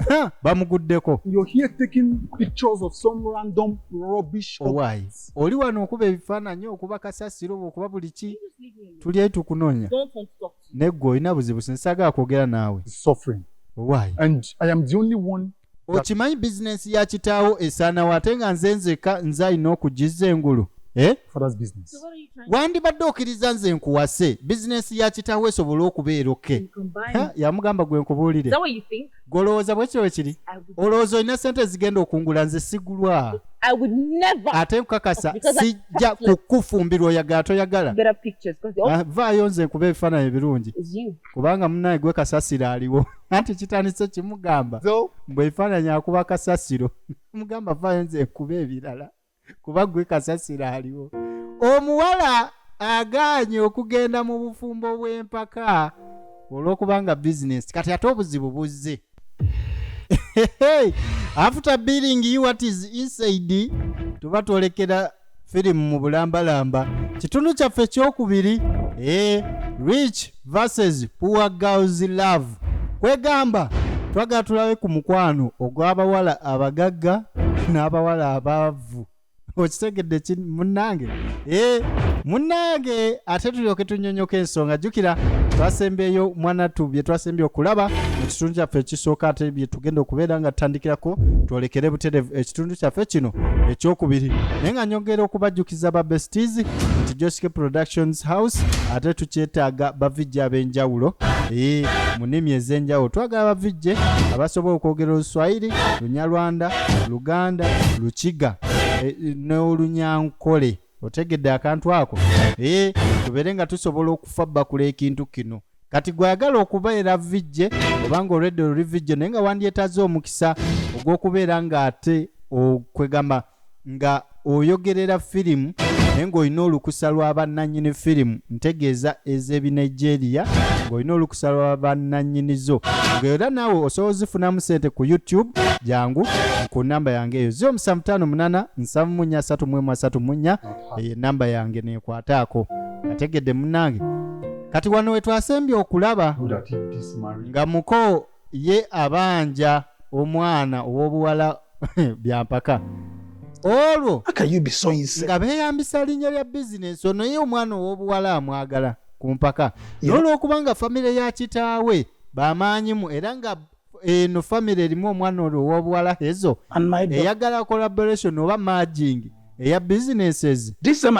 Ha, bamuguddeko You're here taking pictures of some random rubbish. Oh, why? objects. oli wano okuba ebifaananyi okuba kasasiro oba okuba buli ki You just leave me alone. tuli etukunoonya Don't want to talk to you. neggwe olina buzibu sinsaagala kwogera naawe He's suffering. Why? And I am the only one. okimanyi bizinensi ya kitaawo esaanawo ate nga nze nzeka nze alina okugizza engulu eh? father's business. So what are you trying wandibadde okiriza nze nkuwase bizinensi ya kitaawo esobole okubeera oke to combine? Ha, yamugamba gwe Is nkubuulire that what you think? gwe olowooza bwekyo bwe kiri I would, olowooza olina sente ezigenda okungula nze sigulwa I would never ate nkukakasa Because I- sijja kukufumbirwa oyagala toyagala better pictures because all Ah, vaayo nze nkuba ebifaananyi ebirungi is you. kubanga munaye gwe kasasiro aliwo anti kitandise kimugamba So, mbu ebifaananyi akuba kasasiro mugamba vaayo nze nkuba ebirala kuba gwe kasasiro aliwo omuwala agaanye okugenda mu bufumbo bw'empaka olw'okubanga bizinesi kati ate obuzibu buzze after billing you what is inside tuba twolekera firimu mu bulambalamba kitundu kyaffe ekyokubiri e eh, rich verses poor girls love kwegamba twagala tulabe ku mukwano ogw'abawala abagagga n'abawala abaavu okitegedde ki munnange e munnange ate tulyoke tunyonyoka ensonga jjukira twasembeeyo mwanattu bye twasembye okulaba mu kitundu kyaffe ekisooka ate bye tugenda okubeera nga tutandikirako twolekere buterevu ekitundu kyaffe kino ekyokubiri naye nga nyongera okubajjukiza tukyayagaliza ba besties nti josike productions house ate tukyetaaga bavijje ab'enjawulo ee mu nnimi ez'enjawulo twagala bavijje abasobola okwogera oluswayiri lunyarwanda luganda lukiga eh, n'olunyankole otegedde akantu ako ee tubeere nga tusobola okufa bakula ekintu kino kati gwe ayagala okubeera VJ obanga olwedde oluli VJ naye nga wandyetaze omukisa ogw'okubeera ng'ate okwegamba nga oyogerera firimu naye ng'olina olukusa lwa bannannyini firimu ntegeeza ez'ebinigeria ng'olina olukusa lwa bannannyini zo ng'era naawe osobola ozifunamu sente ku youtube jangu ku namba yange eyo zio musa mutaano munana nsavu munya asatu mwemu asatu munya eyo enamba yange neekwataako ategedde munnange kati wano wetwasembye okulaba nga muko ye abanja omwana ow'obuwala byampaka olwo nga beeyambisa linnya lya bizinensi ono ye omwana ow'obuwala amwagala ku mpaka n'olwokubanga famire ya kitaawe bamaanyimu era nga eno eh, famire erimu omwana olwo ow'obuwala hezo eyagala collaboration oba marging eya businesses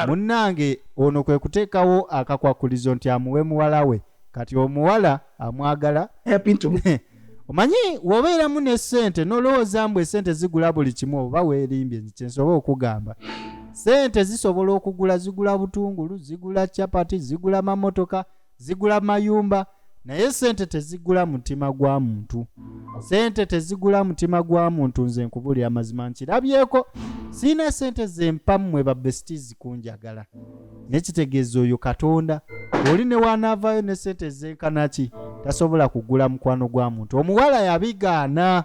munnange ono kwe kuteekawo akakwakulizo nti amuwe muwala we kati omuwala amwagala omanyi wobeeramu ne sente nolowooza mbu esente zigula buli kimu oba weerimbye nti kyensobola okugamba sente zisobola okugula zigula butungulu zigula chapati zigula mamotoka zigula mayumba naye sente tezigula mutima gwa muntu sente tezigula mutima gwa muntu nze nkubulira amazima nkirabyeko siina sente zempa mmwe babesiti zikunjagala nekitegeeza oyo katonda oli newanaavaayo ne sente ezenkanaki tasobola kugula mukwano gwa muntu omuwala yabigaana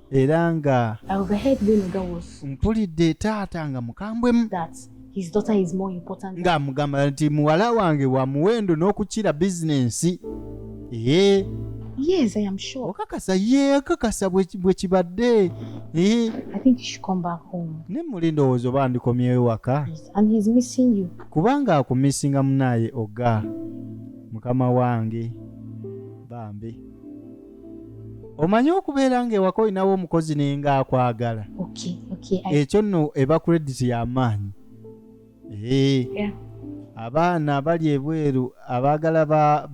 era nga mpulidde taata nga mukambwemu ng'amugamba nti muwala wange wa muwendo n'okukira bizinensi ee Yes, I am sure. Okakasa ye okakasa bwe kibadde. Eh. I think he should come back home. Ne muli ndowooza oba ndikomyeyo waka. Yes, and he's missing you. Kubanga akumissinga munaaye oga mukama wange bambi. omanyi okubeera nga ewaka olinawo omukozi naye nga akwagala ekyo nno eba credit y'amaanyi abaana bali ebweru abaagala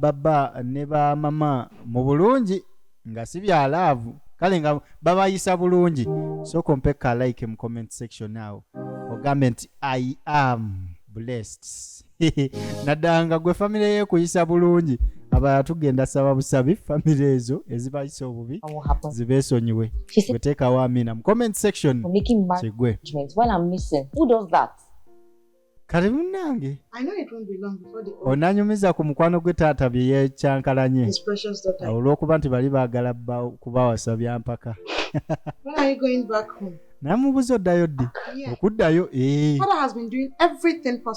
baba ne bamama mu bulungi nga si bya laavu kale nga babayisa bulungi sooka ompekka like mu comment section awo ogambe nti i am blessed naddala nga gwe famire yekuyisa bulungi abalala tugenda saba busabi famire ezo ezibayisa obubi zibesonyiwe wetekawo amina mu comment section kigwe kati munange onanyumiza ku mukwano gwe taata bye yekyankalanye olwokuba nti bali bagala kubawasa byampaka namubuza oddayo ddi okuddayo eh.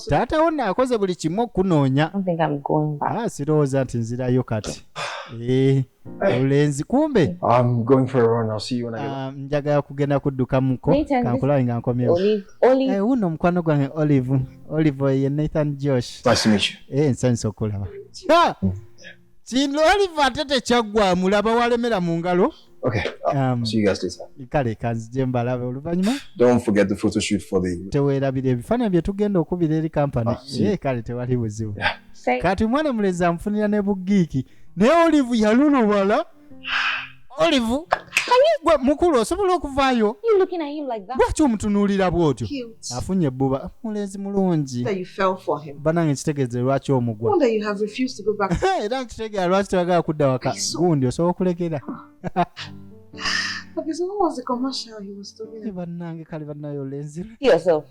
taata wo naakoze buli kimu okukunoonya ah, sirowooza nti nzirayo kati eh, obulenzi kumbe ah, njagala kugenda kuddukamuko kankulawe nga nkomyewuno eh, omukwano gwange olive olive ye nathan josh nsanyusa okulaba kino aliva ate tekyaggwamu laba walemera mu ngalo Okay. Uh, um, see you guys later. Kale kanzije mbalabe oluvanyuma. Don't forget the photo shoot for the. Tewera bile ebifananyi bye tugenda okubira eri company. Ah, eh kale tewali buzibu. Yeah. Kati mwana muleza mfunira ne bugiki. Ne olive yalulubala. olive gwe mukulu osobola okuvaayo lwaki omutunuulira bw'otyo afunye ebbuba mulenzi mulungi banange kitegeeze lwaki omugwa era nkitegeera lwaki tebagala kudda waka gundi osobola okulekera bannange kale bannayo olenzi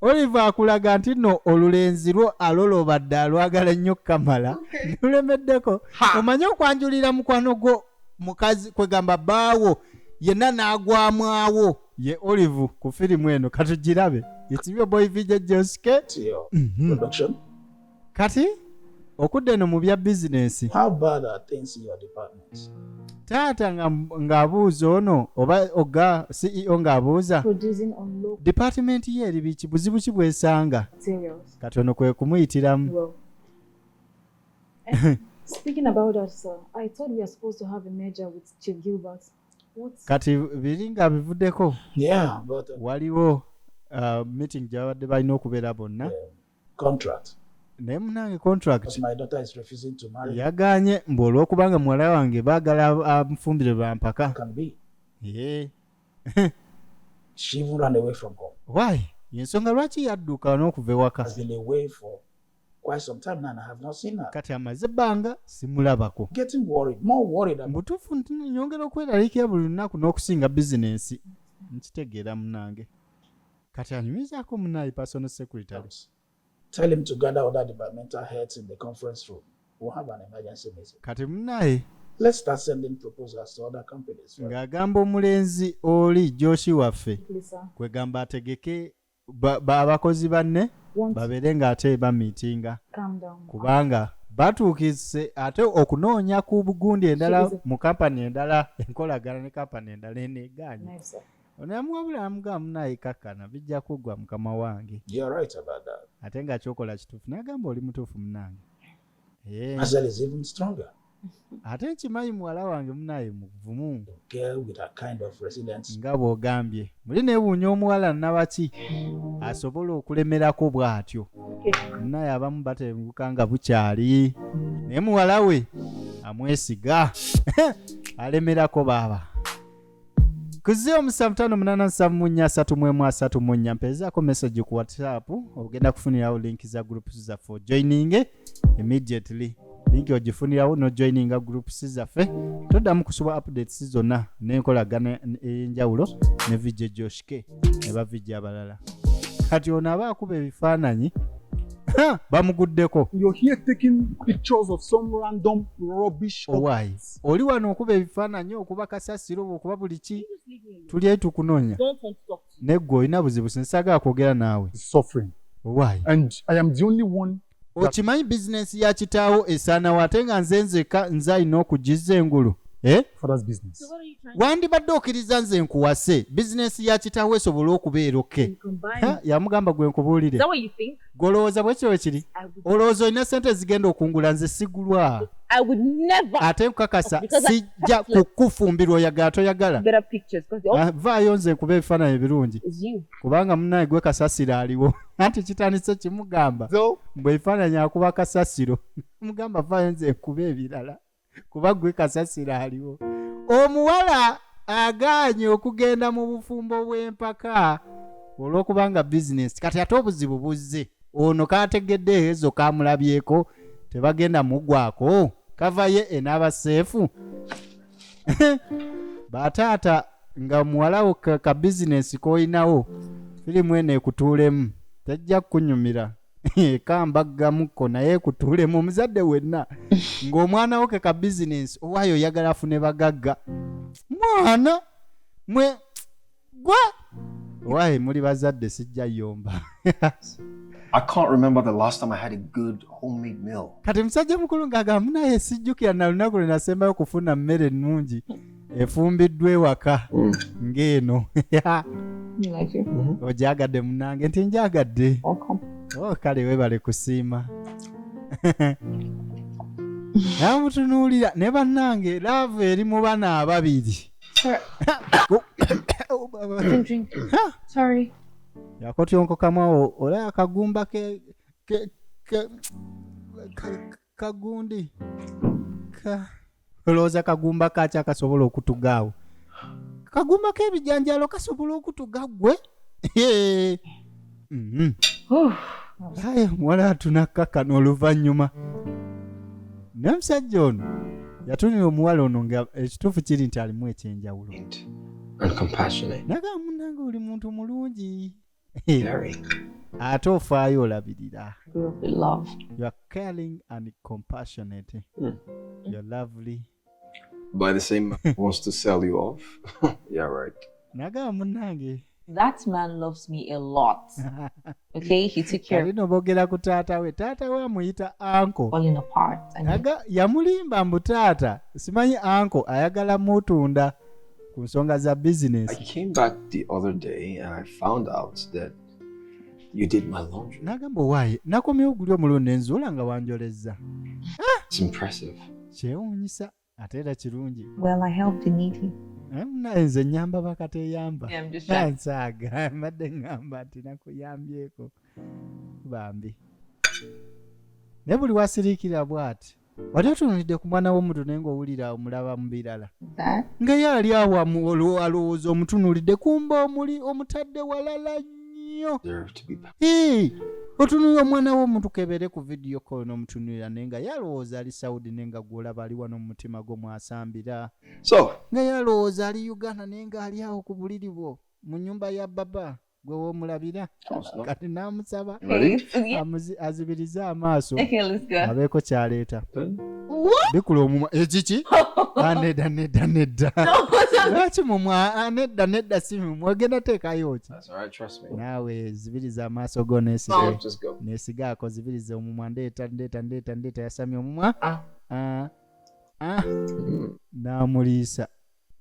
Olive akulaga nti no olulenzi lwo aloloba dda alwagala nnyo kamala lulemeddeko omanyi okwanjulira mukwano gwo mukazi kwegamba baawo yenna n'agwamwawo ye olive ku firimu eno katugirabe it's your boy vijay joske mm -hmm. kati okudda eno mu bya bizinensi taata ng'abuuza ono oba oga ceo ng'abuuza dipatimenti ye eri biki buzibu ki bwesanga kati ono kwe kumuyitiramu Speaking about that, sir, I thought we are supposed to have a merger with Chief Gilbert. kati biringa bivuddeko waliwo uh, meeting gyabadde balina okubeera bonna contract naye munange contract yaganye mbu olwokubanga muwala wange baagala amufumbire bampaka why yensonga lwaki yadduka n'okuva ewaka kati amaze ebbanga simulabako mubutuufu nyongera okweralikira buli lunaku n'okusinga bizinensi nkitegeera munange kati anyumizaako munaye personal secretary tell him to gather other departmental heads in the conference room we'll have an emergency meeting kati munaye let's start sending proposals to other companies ng'agamba omulenzi oli joshi waffe kwegamba ategeke abakozi banne babeere ng'ate bamiitinga kubanga batuukise ate okunoonya ku bugundi endala mu kampani endala enkolagana ne kampani endala eneegaanye ono yamuwabula yamugaa munaye kakkana bijja kuggwa mukama wange right ate nga kyokola kituufu nagamba oli mutuufu munange eh. ate nkimanyi muwala wange munaye muvumu nga bwogambye muli newuunya omuwala nabaki asobola okulemerako bw'atyo munaye abamu batenguka nga bukyali naye muwala we amwesiga alemerako baaba kuziyo musanvu mutano munana nsanvu munya asatu mwemu asatu munya mpeezaako message ku whatsapp ogenda kufunirawo link za groups zaffe ojoininge immediately link ogifunirawo nojoininga groups zaffe toddamu kusuba updates zonna n'enkolagana ey'enjawulo ne vijja joshke ne bavijja abalala kati ono aba akuba ebifaananyi bamuguddeko oh, oli wano okuba ebifaananyi okuba kasasiro okuba buli ki tuli etu kunoonya naye gwe olina buzibu sinsagala kwogera naawe okimanyi bizinensi ya kitaawo esaanawo ate nga nze nzeka nze alina okugizza engulu eh? wandibadde okiriza nze nkuwase bizinensi ya kitaawo esobole okubeera oke yamugamba gwe nkubuulire gwe olowooza bwekyo wekiri olowooza olina sente ezigenda okungula nze sigulwa ate nkukakasa sijja kukufumbirwa oyagala toyagala ah, vaayo nze nkuba ebifaananyi ebirungi kubanga munaye gwe kasasiro aliwo anti kitandise kimugamba mbwe ebifaananyi akuba kasasiro mugamba vaayo nze nkuba ebirala kuba gwe kasasira aliwo omuwala agaanye okugenda mu bufumbo bw'empaka olw'okubanga bizinesi kati ate obuzibu buzze ono kategedde ezo kamulabyeko tebagenda mugwako kava ye enaaba seefu bataata nga muwalawo ka bizinesi k'olinawo firimu eno ekutuulemu tajja kukunyumira kambaggamukko naye kutuulemu omuzadde wenna ng'omwana wo ke ka bizinensi owaayo oyagala afune bagagga mwana mwe gwe owaaye muli bazadde sijja yomba I can't remember the last time I had a good homemade meal. Kati musajja mukulu ng'agamba naye sijjukira na lunaku lwe nasembayo kufuna mmere ennungi efumbiddwa ewaka mm. ng'eno mm-hmm. ogyagadde munange nti njagadde oh, kale webale kusiima namutunuulira ne bannange laavu eri mu bana ababiri yakotyonkokamu awo olaba kagumba kagundi ka olowooza kagumba kaaki akasobola okutugaawo kagumba k'ebijanjalo kasobola okutuga ggwe mhm. aye muwala atunakkakkana oluvannyuma naye omusajja ono yatunira omuwala ono nga ekituufu kiri nti alimu ekyenjawulo naga munange oli muntu mulungi ate ofaayo olabirira nagamba munange That man loves me a lot. Okay, he took care. Alino bogera ku taata we. Taata we amuyita anko. Falling apart. Aga yamulimba mbu taata. Simanyi anko ayagala mutunda. ku nsonga za business. I came back the other day and I found out that you did my laundry. Nagamba owaaye nakomyewo guli omulundi nzuula nga wanjolezza. Ah! It's impressive. Kyewuunyisa ate era kirungi. Well, I helped the needy. Eh, naye nze nyamba bakateyamba nsaaga mbadde ngamba nti nakuyambyeko bambi naye buli wasiriikira bwati wali otunulidde ku mwana w'omuntu naye ng'owulira omulaba mu birala nga ye ali awa alowooza omutunulidde kumba omuli omutadde walala nnyo otunulira omwana w'omuntu kebere ku vidiyo kolo n'omutunulira naye nga ye alowooza ali saudi naye nga gwolaba ali wano mu mutima gwo mwasambira nga ye alowooza ali uganda naye nga ali awo ku buliri bwo mu nyumba ya baba gwe womulabira kati namusaba azibirize amaaso abeeko kyaleeta bikula omumwa ekiki eh, anedda ah, nedda nedda lwaki mumwa anedda ah, nedda si mumwa ogenda teekayo ki naawe zibiriza amaaso go nesige nesigaako zibiriza omumwa ndeeta ndeeta ndeeta ndeeta yasamya omumwa ah. namuliisa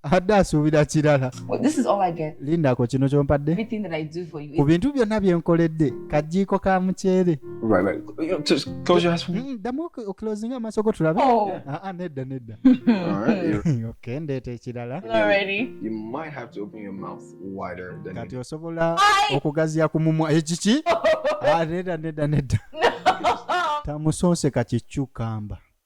abadde asuubira kirala lindako kino kyompadde ku bintu byonna bye nkoledde kajiiko ka muceere mm, ddamu okulozinga amaaso go tulabe oh. ah, ah, nedda nedda okendeeta ekirala kati osobola okugaziya ku mumwa ekiki eh, ah, nedda nedda nedda tamusonseka kikyukamba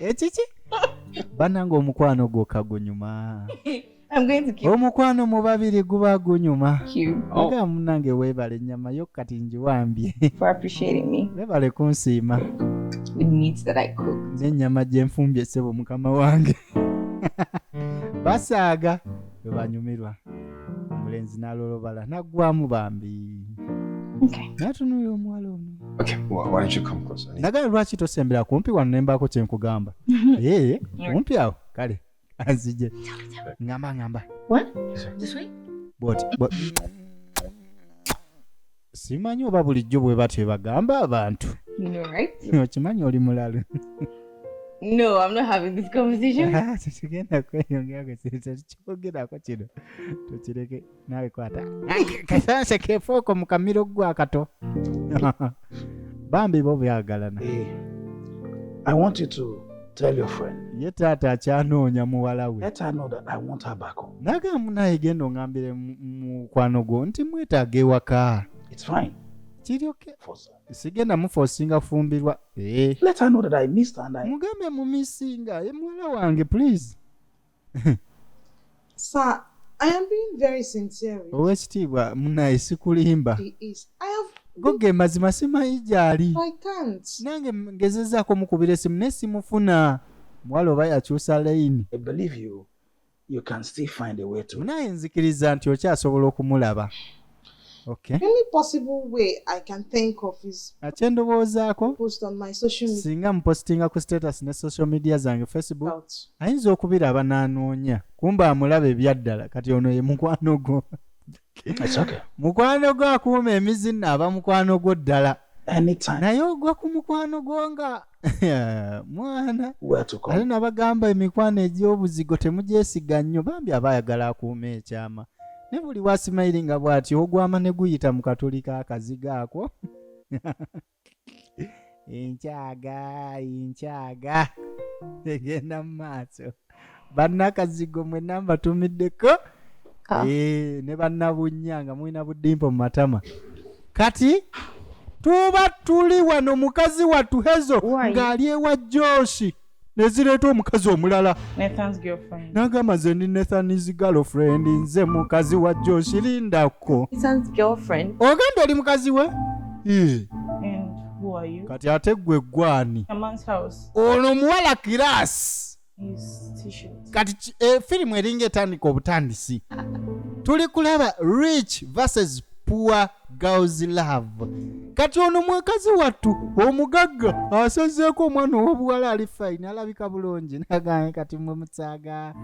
ekiki eh, banange omukwano gwokka gunyuma omukwano mu babiri guba gunyuma aga oh. munange weebale ennyama yo kati ngiwambye weebale kunsiima n'ennyama gye nfumbye ssebo mukama wange basaaga webanyumirwa omulenzi nalolobala naggwamu bambi natunulira omuwala ono naga lwaki tosembera kumpi wano nembaako kyenkugamba ee eh, kumpi awo kale azije ngamba ngamba bwoti simanyi oba bulijjo bwe batyo ebagamba abantu okimanyi oli mulalu No, I'm not having this conversation. Ah, tetugenda kweyongera kwe kintu tekikyogerako kino tukireke naawe kwata kasanse kefooko mu kamiro gwakato bambi bo byagalana eh, i want you to Tell your friend. Ye taata akyanoonya muwala we. Let her know that I want her back home. Naga munaye genda ongambire mukwano gwo nti mwetaaga ewaka. It's fine. Kiri okay. Force. Sigenda mufosinga fumbirwa. Eh. Let her know that I missed her and I. Mugambe mu missinga. Ye muwala wange please. Sir, I am being very sincere. Owekitiibwa munaye sikulimba. He is. I have goge mazima simanyi gyali nange ngezezaako mukubira esimu naye simufuna muwala oba yakyusa layini munaye nzikiriza nti okyasobola okumulaba Okay. Any possible way I can think of is akyendowoozaako post on my social media singa mupositinga ku status ne social media zange facebook out. ayinza okubiraba n'anoonya kumba amulaba ebyaddala kati ono ye mukwano gwo It's okay. mukwano gwo akuuma emizina aba mukwano gwo ddala Anytime. naye ogwa ku mukwano gwo nga mwana ate nabagamba emikwano egy'obuzigo temugyesiga nnyo bambi aba ayagala akuuma ekyama ne buli wasimairi nga bw'ati ogwama ne guyita mu katuli ka kaziga ako enkyaga enkyaga egenda mu maaso bannakazigo mwe namba tumiddeko ah. eh, ne bannabunya nga mulina budimpo mu matama kati tuba tuli wano mukazi wattu hezo ng'ali ewa joshi nezireeta omukazi omulala nagamba nze ndi nathanis girlfriend nze mukazi wa joshi lindako ogenda oli mukazi we kati ate gwe gwani ono omuwala kiraasi kati eh, firimu eringa etandika obutandisi tuli kulaba rich versus poor girls love kati ono mwekazi wattu omugagga asazeeko omwana owobuwala ali fine alabika bulungi naganye kati mwe mutsaga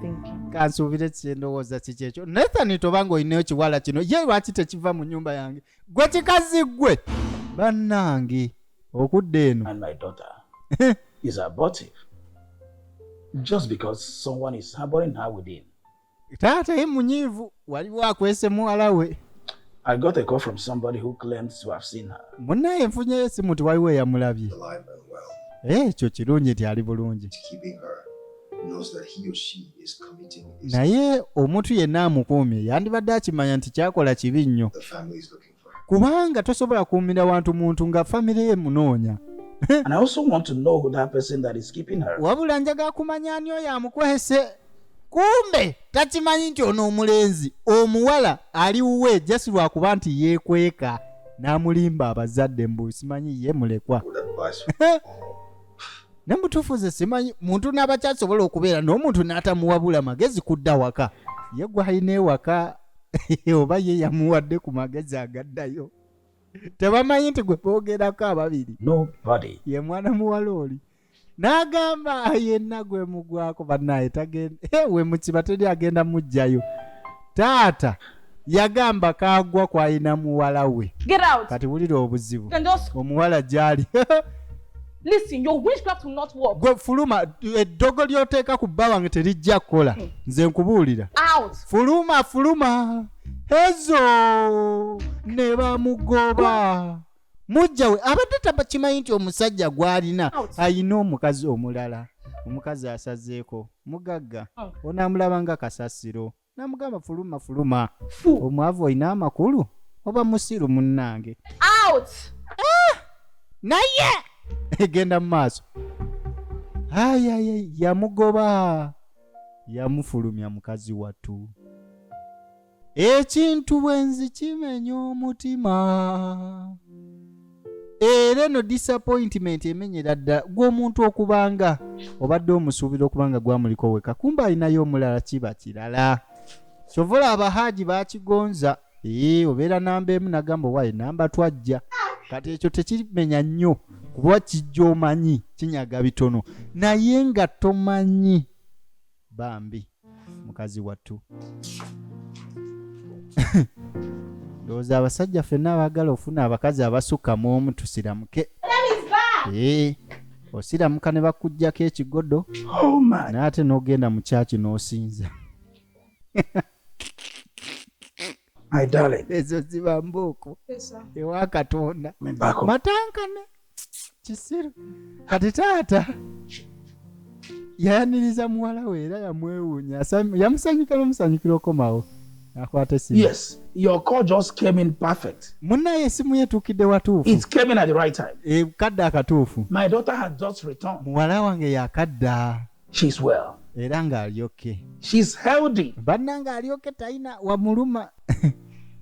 kansuubire kyendowooza kikyekyo nathan tobanga olina ekiwala kino ye lwaki tekiva mu nyumba yange gwe kikazi gwe bannange okudda eno and my daughter is abortive just because someone is harboring her within taata ye munyiivu waliwo akwese muwala we I got a call from somebody who claims to have seen her. Munaye nfunye yesi muti waliwo eyamulabye. Eh, ekyo kirungi nti ali bulungi. Naye omuntu yenna amukuumye yandibadde akimanya nti kyakola kibi nnyo. kubanga tosobola kuumira wantu muntu nga famire ye munoonya wabula njaga kumanya ani oyo amukwese kumbe takimanyi nti ono omulenzi omuwala ali wuwe jasi lwakuba nti yekweka n'amulimba abazadde mbu simanyi ye mulekwa ne mutuufu ze simanyi muntu n'abakyasobola okubeera n'omuntu n'atamuwabula magezi kudda waka ye gwalina ewaka oba ye yamuwadde ku magezi agaddayo tebamanyi nti gwe boogerako ababiri ye mwana muwala oli n'agamba yenna gwe mugwako banaye tagenda eh, we mukiba teri agenda mujjayo taata yagamba kagwa kwalina muwala we kati wulira obuzibu omuwala gyali listen your witchcraft will not work gwe fuluma eddogo lyoteeka ku bba wange terijja kukola hmm. nze nkubuulira out fuluma fuluma ezo ne bamugoba mujja we abadde takimanyi nti omusajja gw'alina ayina omukazi omulala omukazi asazeeko mugagga oh. onaamulaba nga kasasiro namugamba fuluma fuluma omwavu olina amakulu oba musiru munnange out ah! naye egenda mu maaso ayaye yamugoba yamufulumya mukazi wattu ekintu bwenzi kimenya omutima era eno disappointment emenyera ddala gw'omuntu okubanga obadde omusuubira okubanga gwamuliko weka kumba alinayo omulala kiba kirala kyova olaba haaji bakigonza ee obeera namba emu nagamba owaye namba twajja kati ekyo tekimenya nnyo kuba kijja omanyi kinyaga bitono naye nga tomanyi bambi mukazi wattu ndowooza abasajja fenna abagala ofuna abakazi abasukka mu omu tusiramuke ee eh, osiramuka ne bakugjako ekigodo oh naye ate n'ogenda mu kyaki n'osinza My darling. Ezo ziba mbooko ewa Katonda. Matankane kisiru kati taata yayaniriza muwala we era yamwewuunya yamusanyukira omusanyukira okomawo akwata esimu. Yes, your call just came in perfect. Munaye esimu yetuukidde watuufu. It came in at the right time. Ekadde eh, akatuufu. My daughter had just returned. Muwala wange yakadda. She's well. Era nga ali okay. She's healthy. Banna nga ali okay taina wamuluma.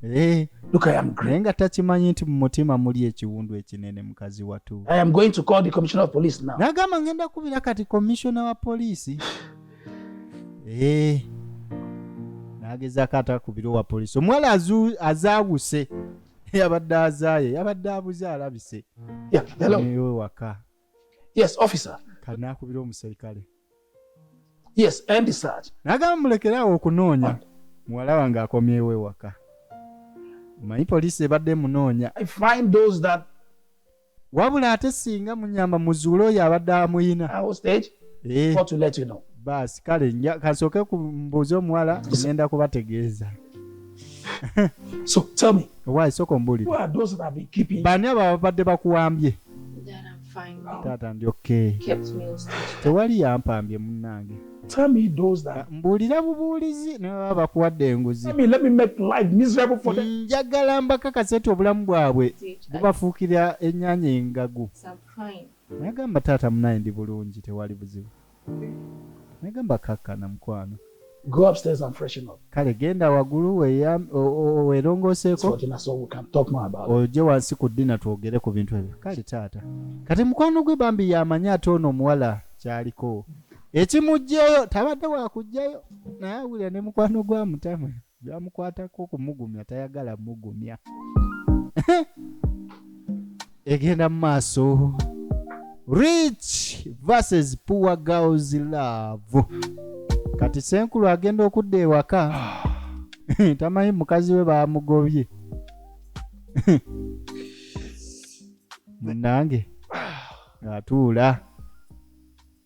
Eh. Look I am great. Nga takimanyi nti mu mutima muli ekiwundu ekinene mukazi watu. I am going to call the commissioner of police now. Nagamba ngenda kubira kati commissioner wa police. Eh. Nagezako atakubira wa police. Omuwala azu azawuse. Yabadde azaye, yabadde abuze alabise. Yeah, hello. Ewe waka. yes officer kati nakubira omuserikale yes and search nagamba mulekerawo okunoonya muwala wange akomyewo ewaka omanyi poliisi ebadde munoonya find those that wabula ate singa munyamba muzuule oyo abadde amuyina eh. baasi kale kansooke kumbuuza omuwala ngenda kubategeeza so tell me why soko mbuli who are those that have been keeping bani aba babadde bakuwambye taata ndi okay tewali yampambye munnange Tell me those that mbuulira bubuulizi naye baba bakuwadde enguzi njagala mbakakase nti obulamu bwabwe bubafuukira ennyanya engagu nagamba taata munaye ndi bulungi tewali buzibu Negamba kakkana mukwano. Go upstairs and freshen up. Kale genda wagulu welongoseeko oje wansi ku ddina twogere ku bintu ebyo. Kale taata kati mukwano gwe bambi yamanyi ate ono omuwala kyaliko ekimugyeyo tabadde wakugyayo naye awulira ne mukwano gwa mutama. Byamukwatako kumugumya tayagala mugumya. Egenda mu maaso. Rich versus poor girls love. Kati senkulu agenda okudda ewaka. Tamanyi mukazi we baamugobye. Munange atuula.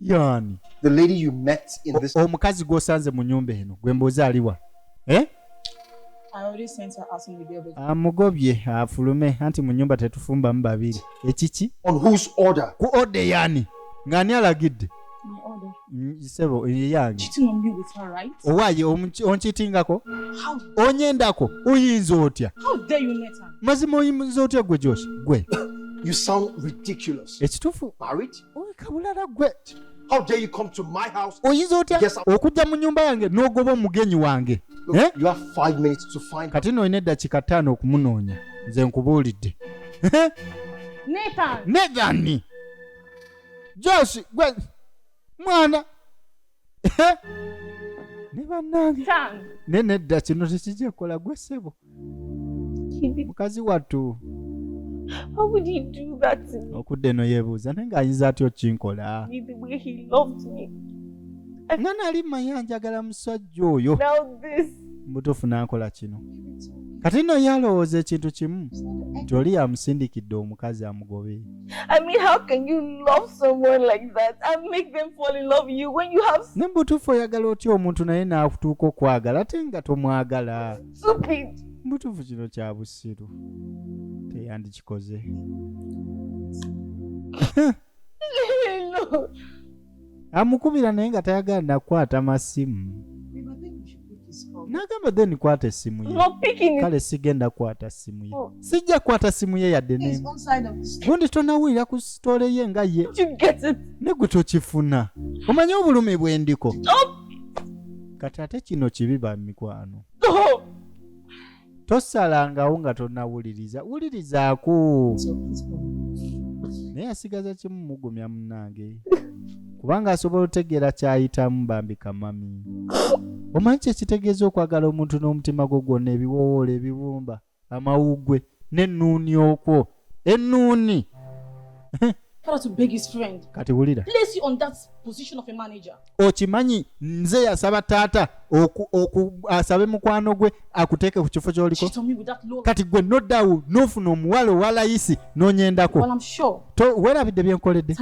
yani the lady you met in this omukazi gwosanze mu nyumba eno gwe mbuuza aliwa eh amugobye afulume anti mu nyumba tetufumbamu babiri ekiki ku ode yani ng'ani alagidde mm, sebo yange owaye onkitingako onyendako oyinza otya mazima oyinza otya gwe josh gwe ekitufu kabulala gwe How dare you come to my house? oyinza otya Yes, I- okujja mu nyumba yange n'ogoba omugenyi wange Look, Eh? You have five minutes to find kati no olina eddakiika ttaano okumunoonya nze nkubuulidde Nathan. nedhani josh gwe mwana ne bannange Tang. naye nedda kino tekijja kukola gwe ssebo Kibi. mukazi wattu How would he do that to me? okudda eno yeebuuza naye ng'ayinza atya okinkola With the way he loved me. nga nali mmanyi anjagala musajja oyo Now this. mubutuufu n'ankola kino kati nno ye alowooza ekintu kimu nti oli yamusindikidde omukazi amugobe I mean, how can you love someone like that and make them fall in love you when you have ne butuufu oyagala otya omuntu naye n'akutuuka okwagala ate nga tomwagala stupid? butuufu kino kya busiru teyandikikoze no. amukubira naye nga tayagala nakukwata masimu nagamba then kwata esimu ye kale sigenda kwata simu ye oh. sijja kwata simu ye yadde nemu gundi tonawulira ku sitole ye nga ye negwe tokifuna omanye obulumi bwendiko kati ate kino kibi ba mikwano oh. tosalangawo nga tonawuliriza wulirizaako naye asigaza kimu mugumya munange kubanga asobola otegeera kyayitamu bambi kamami omanyi kyekitegeeza okwagala omuntu n'omutima gwo gwonna ebiwowoola ebibumba amawuggwe n'ennuuni okwo ennuuni kati wulira okimanyi nze yasaba taata asabe mukwano gwe akuteeke ku kifo kyoliko kati gwe nodawu nofuna omuwala owalayisi nonyendako werabidde byenkoledde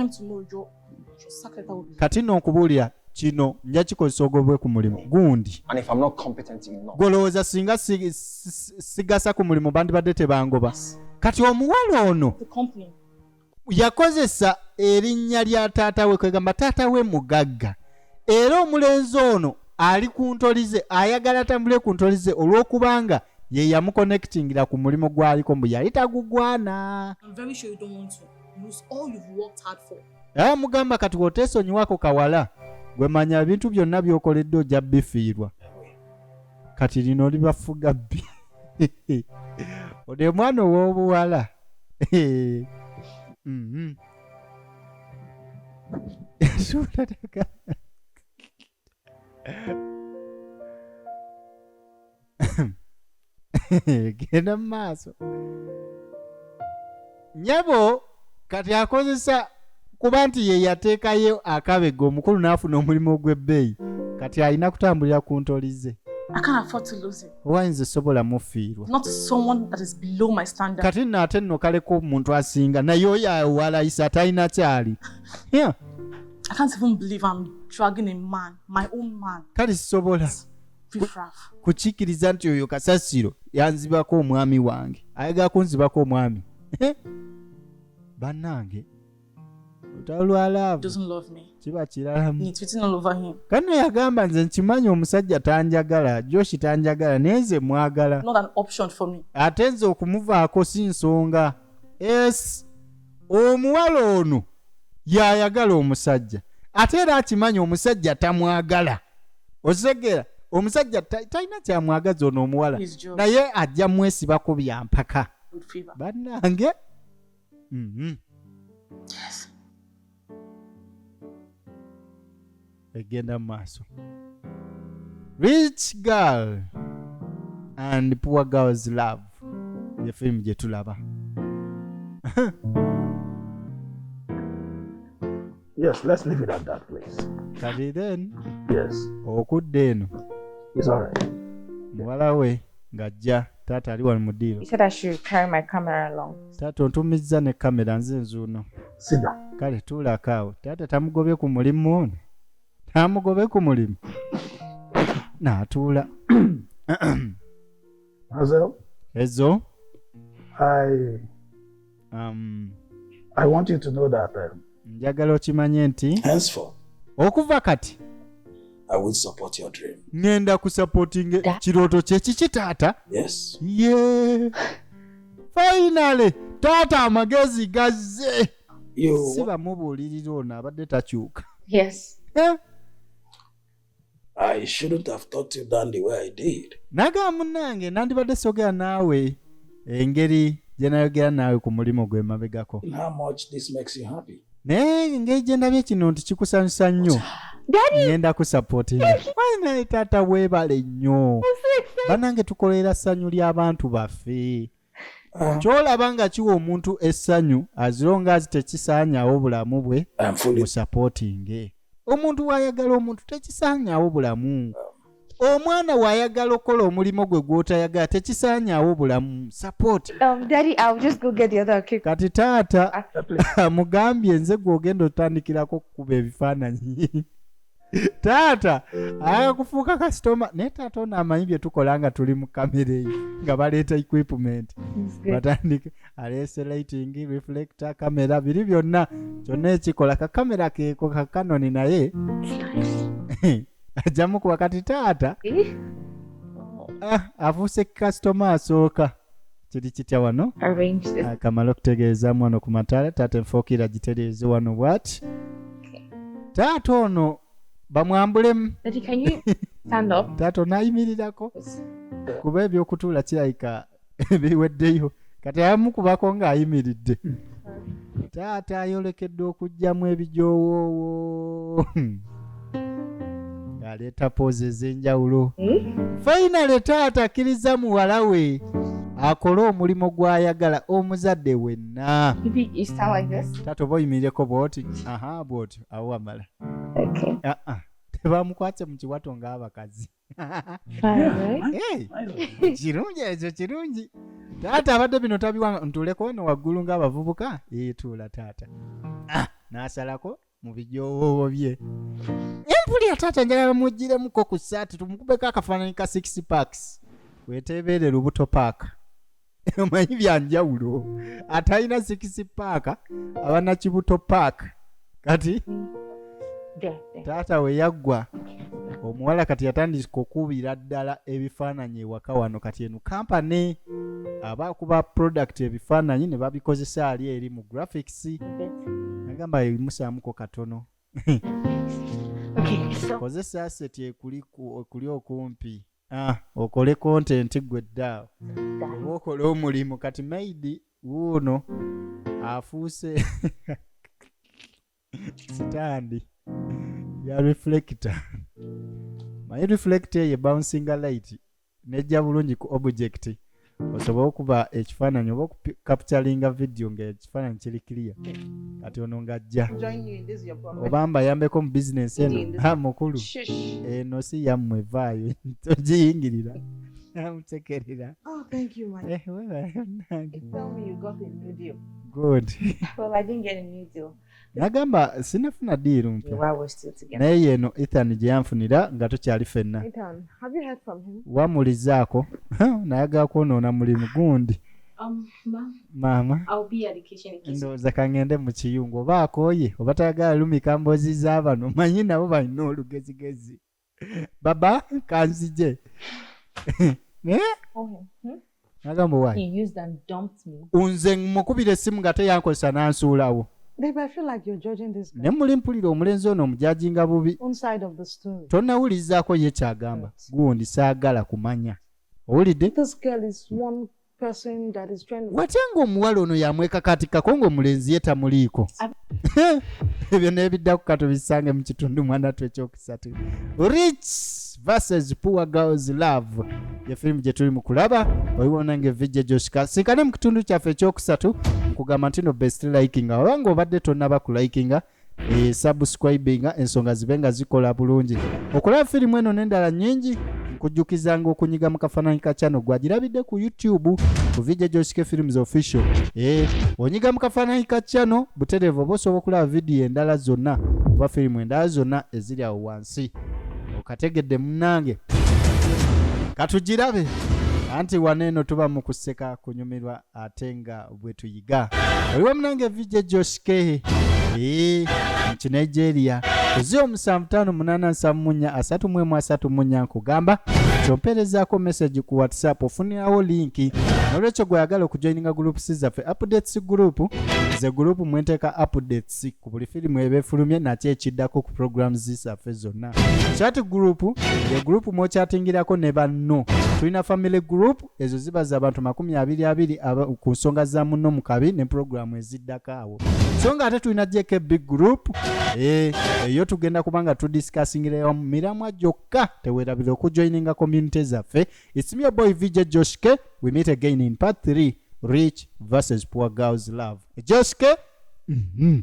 kati no nkubuulira kino nja kikozesa ogobwe ku mulimu gundi gwolowooza singa sigasa ku mulimu bandibadde tebangoba kati omuwala ono yakozesa erinnya lya taata we kwegamba taata we mugagga era omulenzi ono ali ku ntolize ayagala atambule ku ntolize olw'okubanga ye yamukonekitingira ku mulimu gwaliko mbu yali tagugwana lose all you've worked hard for era ah, mugamba kati wotesonyiwako kawala gwe manya ebintu byonna byokoledde ojja bifiirwa kati lino libafuga bbi ode mwana owobuwala mm-hmm. genda mu maaso nyabo kati akozesa kuba nti ye yateekayo akabega omukulu n'afuna omulimu ogw'ebbeeyi kati alina kutambulira ku ntoli ze owayinza esobola mufiirwa kati nno ate nno kaleka omuntu asinga naye oyo awalayisa atalina kyali I can't even believe I'm dragging a man, my own man. kale sisobola Riffraff. kukikkiriza nti oyo kasasiro yanzibako omwami wange ayagala kunzibako omwami Eh? bannange olutalo lwa laavu Doesn't love me. kiba kiralamu He's tweeting all over him. kano yagamba nze nkimanyi omusajja tanjagala joshi tanjagala naye nze mwagala Not an option for me. ate nze okumuvaako si nsonga es omuwala ono yayagala omusajja ate era akimanyi omusajja tamwagala okitegera omusajja talina kyamwagaza ono omuwala naye ajja mwesibako byampaka bannange mm -hmm. yes. egenda mu maaso rich girl and poor girls love ye firimu gye tulaba yes let's leave it at that place kati then yes okudda eno is all right muwala we ng'ajja taata ali wano mu diiro taata ontumizza ne kamera nze nzuuno sida kale tuulako awo taata tamugobye ku mulimu ono tamugobe ku mulimu naatuula mazel ezo i um, i want you to know that um, njagala okimanye nti henceforth okuva kati I will support your dream. ngenda kusupporting Da- kirooto kye kiki taata Yes. ye finally taata amagezi gazze You si bamubuulirira ono abadde takyuka Yes. Eh, I shouldn't have taught you down the way I did. naga munange nandibadde sogera naawe engeri gye nayogera naawe ku mulimu gwe mabegako And how much this makes you happy. naye engeri gye ndabye kino nti kikusanyusa nnyo ngenda kusapotingae taata weebale nnyo banange tukolera ssanyu ly'abantu baffe ah. kyolaba nga kiwa omuntu essanyu azironga azi tekisaanyawo bulamu bwe musapotinge omuntu waayagala omuntu tekisaanyawo bulamu ah. omwana wayagala okukola omulimu gwe gwotayagala tekisaanyaawo bulamu support Um, Daddy, I'll just go get the other cake. kati taata After play. amugambye nze gwogenda otandikirako okukuba ebifaananyi taata ayaka kufuuka kasitoma naye taata ono amanyi bye tukola nga tuli mu kamera eyo nga baleeta equipment It's good. batandika aleese lighting reflector kamera biri byonna kyonna ekikola kakamera keeko kakanoni naye It's nice. ajja mukuba kati taata ah, afuuse kasitoma asooka kiri kitya wano akamala ah, okutegeezamu wano ku mataala taata enfokiira gitereeze wano bwati taata ono bamwambulemu taata onaayimirirako kuba ebyokutuula kirabika biweddeyo kati ayamukubako ng'ayimiridde taata ayolekedde okugyamu ebijoowoowo ng'aleeta poozi ez'enjawulo fainale taata akkiriza muwala we akole omulimu gw'ayagala omuzadde wenna taata oba oyimirireko bwoti aha bwoti awo wamala ah, ah. tebamukwatse mu kiwato ng'abakazi kirungi ekyo kirungi taata abadde bino tabiwanga ntuleko no waggulu ng'abavubuka eyetuula taata ah, n'asalako mu bijowoobo bye empulira taata njagala mujjiremuko ku saati tumukubeko akafaananyi ka six parks weteebeere lubuto paaka omanyi byanjawulo atalina sikisi paaka abana kibuto paaka kati taata we yaggwa omuwala kati yatandika okubira ddala ebifaananyi ewaka wano kati eno kampani aba kuba product ebifaananyi ne babikozesa ali eri mu graphics agamba ebimusaamuko katono kozesa aseti ekuli okumpi ah, okole kontenti gwe ddaawo oba okole omulimu kati maidi wuuno afuuse sitandi ya reflector maye reflector eye bouncinga light nejja bulungi ku object osobola okuba ekifaananyi oba okukapitalinga vidiyo ngaekifaananyi kiri kiriya kati ono ng'ajja oba mbayambeko mu bizinensi eno ha mukulu eno si yammwe vaayo togiyingirira amutekerera oh, eh, good nagamba sinafuna diiru mpya naye yeno ethan gye yanfunira nga tukyali fenna wamulizaako nayagala kwonoona mulimu gundi um, maama ndowooza kangende mu kiyungu oba akooye oba tayagala lumika mboozi za bano manyi nabo balina olugezigezi baba kanzije nagamba wa nze mukubira essimu nga teyankozesa nansuulawo ne muli mpulira omulenzi ono omujajinga bubi tonawulizaako ye kyagamba gundi saagala kumanya owulidde watya ng'omuwala ono yamwekakatikkako ng'omulenzi ye tamuliiko ebyo n'ebiddaku ka tubisange mu kitundu mwanatu ekyokusatu rich versus poor girls love ye firimu gye tuli mu kulaba oliwona ng'evijja gyoshika sinkane mu kitundu kyaffe ekyokusatu nkugamba nti no best likinga oba ng'obadde tonnaba ku likinga esubscribinga ensonga zibe nga zikola bulungi okulaba firimu eno n'endala nnyingi nkujjukizanga okunyiga mu kafaananyi ka channel gwagirabidde ku youtube ku vidiyo gyosike films official e onyiga mu kafaananyi ka channel butereevu oba osobola okulaba vidiyo endala zonna oba firimu endala zonna eziri awo wansi okategedde munange katugirabe anti wano eno tuba mu kuseka kunyumirwa ate nga bwetuyiga oliwo munange vijja joshikehe ee nki nigeria ozi omusanvu tano munana nsavu munya asatu mwemu asatu munya nkugamba kyompeerezaako message ku whatsapp ofunirawo linki nolwekyo gweyagala okujoininga groups zaffe updates group ze group mwenteeka updates ku buli firimu eba efulumye nakyo ekiddako ku programs zaffe zonna chat group ye group mwokyatingirako ne banno tulina family group ezo ziba za bantu makumi abiri abiri ku nsonga za munno mu kabi ne pulogulaamu eziddako awo so nga ate tulina jk big group eh, eyo tugenda kuba nga tudisikasingirewa mu miramwa gyokka tewerabira okujoininga community zaffe ismio boy vj joshke we meet again in part 3 rich versus poor girls love joshke mm -hmm.